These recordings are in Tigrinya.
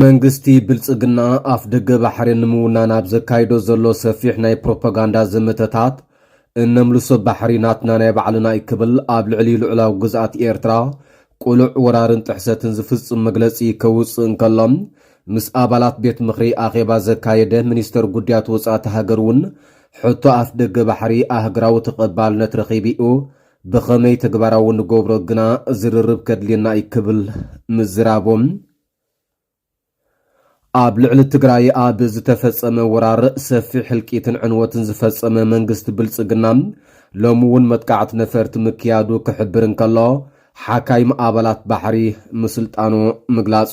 መንግስቲ ብልጽግና ኣፍ ደገ ባሕሪ ንምውናን ኣብ ዘካይዶ ዘሎ ሰፊሕ ናይ ፕሮፓጋንዳ ዘመተታት እነምልሶ ባሕሪ ናትና ናይ ባዕልና እዩ ክብል ኣብ ልዕሊ ልዑላዊ ግዝኣት ኤርትራ ቁሉዕ ወራርን ጥሕሰትን ዝፍጽም መግለጺ ከውጽእ እንከሎ ምስ ኣባላት ቤት ምኽሪ ኣኼባ ዘካየደ ሚኒስተር ጉድያት ወጻእቲ ሃገር እውን፣ ሕቶ ኣፍደገ ባሕሪ ኣህግራዊ ተቐባልነት ረኺቢ'ዩ፣ ብኸመይ ተግባራዊ ንገብሮ ግና ዝርርብ ከድልየና'ዩ ክብል ምዝራቡ፣ ኣብ ልዕሊ ትግራይ ኣብ ዝተፈጸመ ወራር ሰፊሕ ህልቂትን ዕንወትን ዝፈጸመ መንግስቲ ብልጽግና፣ ሎሚ እውን መጥቃዕቲ ነፈርቲ ምክያዱ ክሕብር እንከሎ፣ ሓካይም ኣባላት ባሕሪ ምስልጣኑ ምግላጹ፣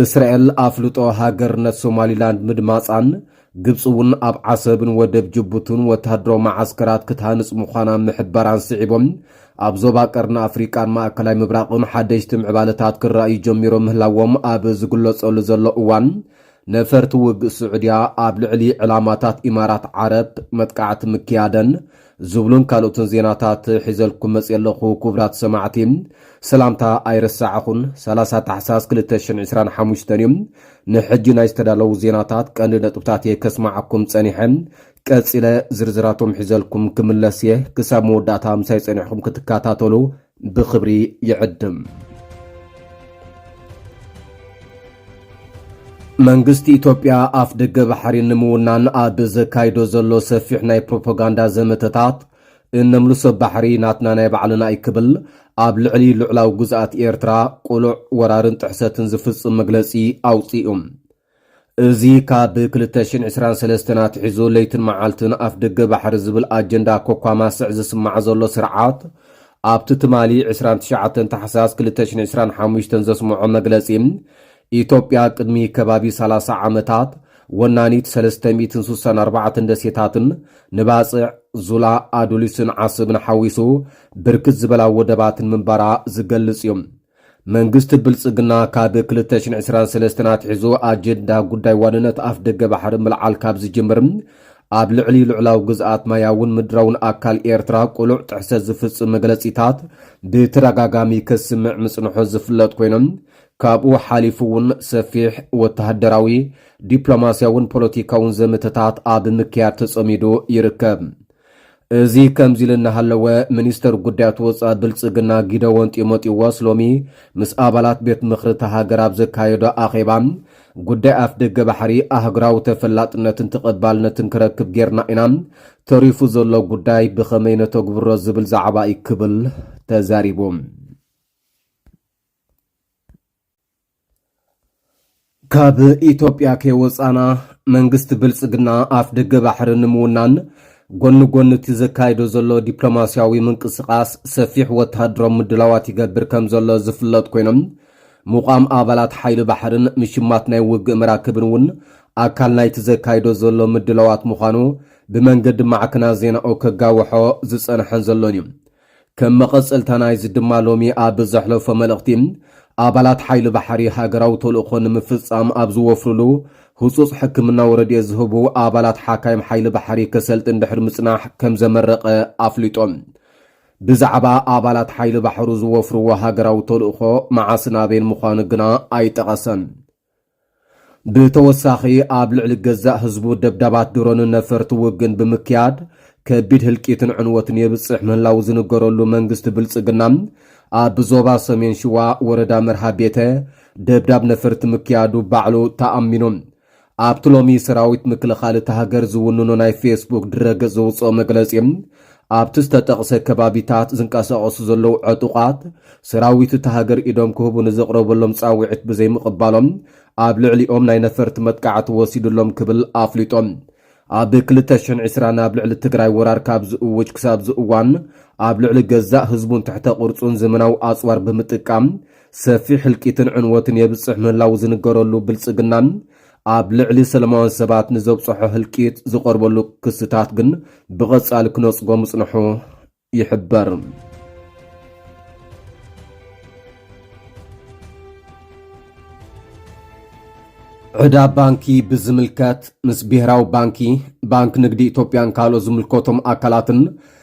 እስራኤል ኣፍልጦ ሃገርነት ሶማሊላንድ ምድማጻን፣ ግብጺ እውን ኣብ ዓሰብን ወደብ ጅቡትን ወተሃደራዊ መዓስከራት ክትሃንጽ ምዃና ምሕባራን ስዒቦም፣ ኣብ ዞባ ቀርኒ ኣፍሪቃን ማእከላይ ምብራቕን ሓደሽቲ ምዕባለታት ክረኣዩ ጀሚሮም ምህላዎም ኣብ ዝግለጸሉ ዘሎ እዋን፣ ነፈርቲ ውግእ ስዑድያ ኣብ ልዕሊ ዕላማታት ኢማራት ዓረብ መጥቃዕቲ ምክያደን ዝብሉን ካልኦትን ዜናታት ሒዘልኩም መጽየ ኣለኹ ኩቡራት ሰማዕቲ ሰላምታ ኣይረሳዕኹን ሰላሳ ታሕሳስ ክልተ ሽሕን ዕስራን ሓሙሽተን እዩ ንሕጂ ናይ ዝተዳለዉ ዜናታት ቀንዲ ነጥብታት እየ ከስማዓኩም ጸኒሐ ቀጺለ ዝርዝራቶም ሒዘልኩም ክምለስ እየ ክሳብ መወዳእታ ምሳይ ጸኒሕኹም ክትከታተሉ ብኽብሪ ይዕድም። መንግስቲ ኢትዮጵያ ኣፍ ደገ ባሕሪ ንምውናን ኣብ ዘካይዶ ዘሎ ሰፊሕ ናይ ፕሮፓጋንዳ ዘመተታት እነምልሶ ባሕሪ ናትና ናይ ባዕልና እዩ ክብል ኣብ ልዕሊ ልዑላዊ ግዝኣት ኤርትራ ቁሉዕ ወራርን ጥሕሰትን ዝፍጽም መግለጺ ኣውጺኡ። እዚ ካብ ክልተ ሽሕን ዕስራን ሰለስተን ኣትሒዙ ለይትን መዓልትን ኣፍደገ ባሕሪ ዝብል ኣጀንዳ ኮኳማስዕ ዝስማዕ ዘሎ ስርዓት፣ ኣብቲ ትማሊ ዕስራን ትሽዓተን ታሕሳስ ክልተ ሽሕን ዕስራን ሓሙሽተን ዘስመዖ መግለጺ፣ ኢትዮጵያ ቅድሚ ከባቢ ሰላሳ ዓመታት ወናኒት ሰለስተ ሚእትን ስሳን ኣርባዕተን ደሴታትን ንባጽዕ፣ ዙላ፣ ኣዱሊስን ዓሰብን ሓዊሱ ብርክት ዝበላ ወደባትን ምንባራ ዝገልጽ እዩ። መንግስቲ ብልጽግና ካብ ክልተ ሽሕን ዕስራን ሰለስተን ኣትሒዙ ኣጀንዳ ጉዳይ ዋንነት ኣፍደገ ባሕሪ ምልዓል ካብ ዝጅምር ኣብ ልዕሊ ልዑላዊ ግዝኣት ማያውን ምድራውን ኣካል ኤርትራ ቅሉዕ ጥሕሰት ዝፍጽም መግለጺታት ብተደጋጋሚ ከስምዕ ምጽንሖ ዝፍለጥ ኮይኑ ካብኡ ሓሊፉ እውን ሰፊሕ ወተሃደራዊ ዲፕሎማስያውን ፖለቲካውን ዘመተታት ኣብ ምክያድ ተጸሚዱ ይርከብ። እዚ ከምዚ ኢሉ እናሃለወ ሚኒስተር ጉዳያት ወፃኢ ብልፅግና ጊደዎን ጢሞጢዎስ ሎሚ ምስ ኣባላት ቤት ምኽሪ እታ ሃገር ኣብ ዘካየዶ ኣኼባ ጉዳይ ኣፍደገ ባሕሪ ኣህጉራዊ ተፈላጥነትን ተቐባልነትን ክረክብ ጌርና ኢና፣ ተሪፉ ዘሎ ጉዳይ ብኸመይ ነተግብሮ ዝብል ዛዕባ እዩ ክብል ተዛሪቡ። ካብ ኢትዮጵያ ከይወፃና መንግስቲ ብልፅግና ኣፍ ደገ ባሕሪ ንምውናን ጎኒ ጎኒ እቲ ዘካይዶ ዘሎ ዲፕሎማስያዊ ምንቅስቓስ ሰፊሕ ወተሃደራዊ ምድላዋት ይገብር ከም ዘሎ ዝፍለጥ ኮይኖም ምቋም ኣባላት ሓይሊ ባሕርን ምሽማት ናይ ውግእ መራክብን እውን ኣካል ናይቲ ዘካይዶ ዘሎ ምድላዋት ምዃኑ ብመንገዲ ማዕክና ዜናኡ ከጋውሖ ዝፀንሐን ዘሎን እዩ። ከም መቐጸልታ ናይዚ ድማ ሎሚ ኣብ ዘሕለፎ መልእኽቲ፣ ኣባላት ሓይሊ ባሕሪ ሃገራዊ ተልእኾ ንምፍጻም ኣብ ዝወፍርሉ፣ ህጹጽ ሕክምናዊ ረድኤት ዝህቡ ኣባላት ሓካይም ሓይሊ ባሕሪ ከሰልጥን ድሕሪ ምጽናሕ ከም ዘመረቐ ኣፍሊጡ። ብዛዕባ ኣባላት ሓይሊ ባሕሩ ዝወፍርዎ ሃገራዊ ተልእኾ መዓስን ኣበይን ምዃኑ ግና ኣይጠቐሰን። ብተወሳኺ ኣብ ልዕሊ ገዛእ ህዝቡ ደብዳባት ድሮንን ነፈርቲ ውግን ብምክያድ ከቢድ ህልቂትን ዕንወትን የብፅሕ ምህላው ዝንገረሉ መንግስቲ ብልፅግና ኣብ ዞባ ሰሜን ሽዋ ወረዳ መርሃ ቤተ ደብዳብ ነፈርቲ ምክያዱ ባዕሉ ተኣሚኑ ኣብቲ ሎሚ ሰራዊት ምክልኻል እታ ሃገር ዝውንኖ ናይ ፌስቡክ ድረገፅ ዘውፅኦ መግለፂ ኣብቲ ዝተጠቕሰ ከባቢታት ዝንቀሳቐሱ ዘለዉ ዕጡቓት ሰራዊት እታ ሃገር ኢዶም ክህቡ ንዘቕረበሎም ጻውዒት ብዘይምቕባሎም ኣብ ልዕሊኦም ናይ ነፈርቲ መጥቃዕቲ ወሲዱሎም ክብል ኣፍሊጦም። ኣብ ክልተ ሽሕን ዕስራን ኣብ ልዕሊ ትግራይ ወራር ካብ ዝእውጅ ክሳብ እዚ እዋን ኣብ ልዕሊ ገዛእ ህዝቡን ትሕተ ቅርጹን ዘመናዊ ኣጽዋር ብምጥቃም ሰፊሕ ህልቂትን ዕንወትን የብጽሕ ምህላዉ ዝንገረሉ ብልጽግና ኣብ ልዕሊ ሰለማውያን ሰባት ንዘብጽሖ ህልቂት ዝቐርበሉ ክስታት ግን ብቐጻሊ ክነጽጎ ምጽንሑ ይሕበር። ዕዳ ባንኪ ብዝምልከት ምስ ብሄራዊ ባንኪ፣ ባንኪ ንግዲ ኢትዮጵያን ካልኦት ዝምልከቶም ኣካላትን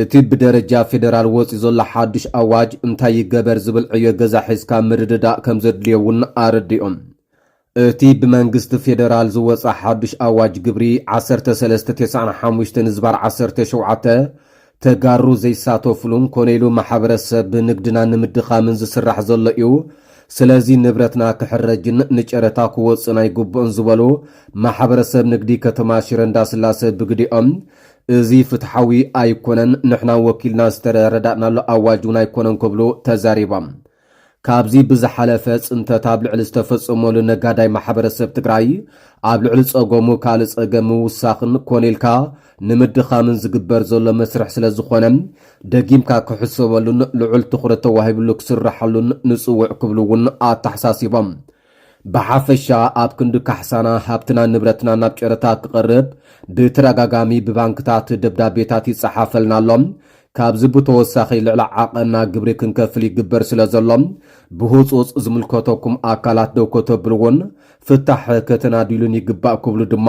እቲ ብደረጃ ፌደራል ወጺኡ ዘሎ ሓዱሽ ኣዋጅ እንታይ ይገበር ዝብል ዕዮ ገዛ ሒዝካ ምርድዳእ ከምዘድልዮ እውን ኣረዲኦም። እቲ ብመንግስቲ ፌደራል ዝወጸ ሓዱሽ ኣዋጅ ግብሪ ዓሰርተ ሰለስተ ቴስዓን ሓሙሽተን ዝባር ዓሰርተ ሸውዓተ ተጋሩ ዘይሳተፍሉን ኮነ ኢሉ ማሕበረሰብ ንግድና ንምድኻምን ዝስራሕ ዘሎ እዩ፣ ስለዚ ንብረትና ክሕረጅን ንጨረታ ክወጽእን ኣይግብኦን ዝበሉ ማሕበረሰብ ንግዲ ከተማ ሽረ እንዳስላሰ ብግዲኦም፣ እዚ ፍትሓዊ ኣይኮነን፣ ንሕና ወኪልና ዝተረዳእናሉ ኣዋጅ እውን ኣይኮነን ክብሉ ተዛሪቦም። ካብዚ ብዝሓለፈ ፅንተት ኣብ ልዕሊ ዝተፈፀመሉ ነጋዳይ ማሕበረሰብ ትግራይ ኣብ ልዕሊ ፀገሙ ካልእ ፀገም ምውሳኽን ኮነ ኢልካ ንምድኻምን ዝግበር ዘሎ መስርሕ ስለዝኾነ ደጊምካ ክሕሰበሉን ልዑል ትኹረት ተዋሂብሉ ክስራሓሉን ንፅውዕ ክብሉ እውን ኣተሓሳሲቦም። ብሓፈሻ ኣብ ክንዲ ካሕሳና ሃብትናን ንብረትናን ናብ ጨረታ ክቐርብ ብተደጋጋሚ ብባንክታት ደብዳቤታት ይጸሓፈልና ኣሎ። ካብዚ ብተወሳኺ ልዕሊ ዓቐንና ግብሪ ክንከፍል ይግበር ስለ ዘሎ ብህጹጽ ዝምልከተኩም ኣካላት ደው ከተብልዎን ፍታሕ ከተናድዩሉን ይግባእ ክብሉ ድማ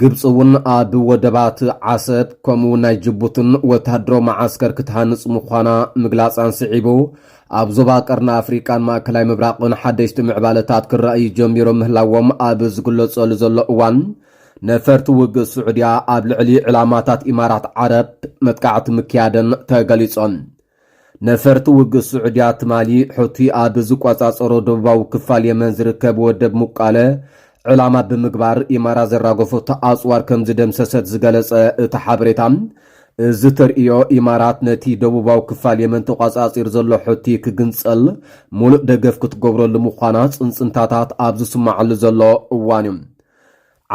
ግብጺ እውን ኣብ ወደባት ዓሰብ ከምኡ ናይ ጅቡትን ወተሃደራዊ መዓስከር ክትሃንጽ ምዃና ምግላጻን ስዒቡ፣ ኣብ ዞባ ቀርኒ ኣፍሪቃን ማእከላይ ምብራቕን ሓደሽቲ ምዕባለታት ክረኣዩ ጀሚሮም ምህላዎም ኣብ ዝግለጸሉ ዘሎ እዋን፣ ነፈርቲ ውግእ ስዑድያ ኣብ ልዕሊ ዕላማታት ኢማራት ዓረብ መጥቃዕቲ ምክያደን ተገሊጾ። ነፈርቲ ውግእ ስዑድያ ትማሊ ሑቲ ኣብ ዝቆጻጸሮ ደቡባዊ ክፋል የመን ዝርከብ ወደብ ሙቃለ ዕላማ ብምግባር ኢማራት ዘራገፈቶ ኣጽዋር ከም ዝደምሰሰት ዝገለጸ እቲ ሓበሬታ፣ እዚ ተርእዮ ኢማራት ነቲ ደቡባዊ ክፋል የመን ተቋጻጺሩ ዘሎ ሑቲ ክግንጸል ሙሉእ ደገፍ ክትገብረሉ ምዃና ጽንጽንታታት ኣብ ዝስማዓሉ ዘሎ እዋን'ዩ።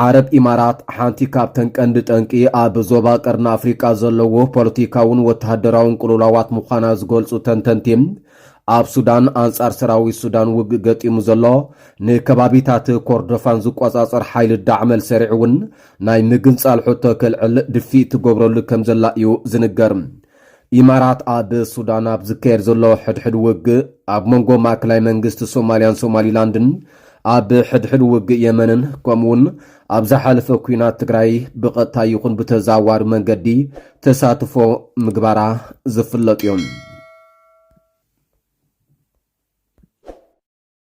ዓረብ ኢማራት ሓንቲ ካብተን ቀንዲ ጠንቂ ኣብ ዞባ ቀርኒ ኣፍሪቃ ዘለዎ ፖለቲካውን ወተሃደራውን ቅልውላዋት ምዃና ዝገልጹ ተንተንቲ፣ ኣብ ሱዳን ኣንጻር ሰራዊት ሱዳን ውግእ ገጢሙ ዘሎ ንከባቢታት ኮርዶፋን ዝቆጻጸር ሓይሊ ዳዕመል ሰሪዕ እውን ናይ ምግንጻል ሕቶ ከልዕል ድፍኢት ትገብረሉ ከምዘላ እዩ ዝንገር። ኢማራት ኣብ ሱዳን ኣብ ዝካየድ ዘሎ ሕድሕድ ውግእ ኣብ መንጎ ማእከላይ መንግስቲ ሶማልያን ሶማሊላንድን ኣብ ሕድሕድ ውግእ የመንን ከምኡውን ኣብ ዝሓለፈ ኩናት ትግራይ ብቐጥታ ይኹን ብተዛዋሪ መንገዲ ተሳትፎ ምግባራ ዝፍለጥ እዩ።